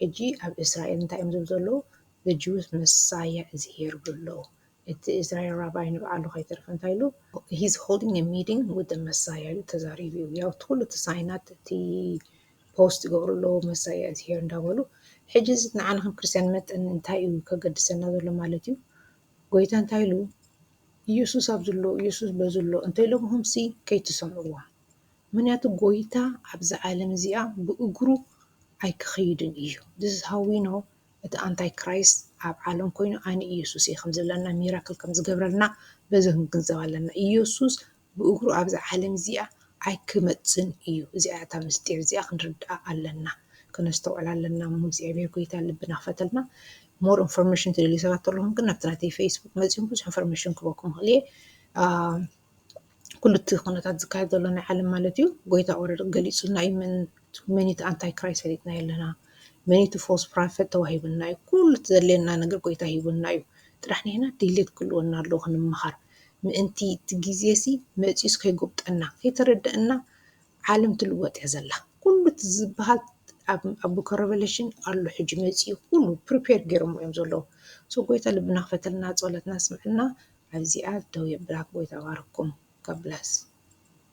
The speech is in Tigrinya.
ሕጂ ኣብ እስራኤል እንታይ እዮም ዝብሉ ዘለዉ the Jews Messiah is here ይብሉ ኣለዉ እቲ እስራኤል ራባይ ንባዕሉ ከይተረፈ እንታይ ኢሉ he's holding a meeting with the Messiah ኢሉ ተዛሪቡ እዩ ያው እቲ ኩሉ እቲ ሳይናት እቲ ፖስት ይገብሩ ኣለዉ Messiah is here እንዳበሉ ሕጂ እዚ ንዓና ከም ክርስትያን መጠን እንታይ እዩ ከገድሰና ዘሎ ማለት እዩ ጎይታ እንታይ ኢሉ ኢየሱስ ኣብዚ ኣሎ ኢየሱስ በዚ ኣሎ እንተኢሎምኹምሲ ከይትሰምዕዎም ምክንያቱ ጎይታ ኣብዛ ዓለም እዚኣ ብእግሩ ኣይክከይድን ኢዩ this is how we know እቲ ኣንታይ ክራይስት ኣብ ዓለም ኮይኑ ኣነ ኢየሱስ ኢየ ከም ዝብለና ሚራክል ከም ዝገብረልና በዚ ክንግንዘብ ኣለና ኢየሱስ ብእግሩ ኣብዛ ዓለም እዚኣ ኣይክመጽን ኢዩ እዚኣ እታ ምስጢር እዚኣ ክንርድኣ ኣለና ከነስተውዕላ ኣለና እሞ እግዚኣብሔር ጎይታ ልብና ክፈተልና ሞር ኢንፎርሜሽን ትደልዩ ሰባት ተለኹም ግን ናብቲ ናተይ ፌስቡክ መጺኡም ብዙሕ ኢንፎርሜሽን ክበኩም ይኽእል ኢየ ኩሉ እቲ ኩነታት ዝካየድ ዘሎ ናይ ዓለም ማለት እዩ ጎይታ ኦረድ ገሊፁልና እዩ መን እቲ ኣንታይ ክራይስት ፈሊጥና ኣለና መን እቲ ፎስ ፕራፈት ተዋሂቡና እዩ ኩሉ እቲ ዘድልየና ነገር ጎይታ ሂቡና እዩ ጥራሕ ንሕና ድልየት ክህልወና ኣለዎ ክንመሃር ምእንቲ እቲ ግዜ ሲ መፂኡስ ከይጎብጠና ከይተረደእና ዓለም ትልወጥ እያ ዘላ ኩሉ እቲ ዝብሃል ኣብ ቡክ ረቨለሽን ኣሎ ሕጂ መጺኡ ኩሉ ፕሪፔር ገይሮሞ እዮም ዘለዉ ሶ ጎይታ ልብና ክፈተልና ጸሎትና ስምዐልና ኣብዚኣ ደው የብላ ጎይታ ባርኩም God bless።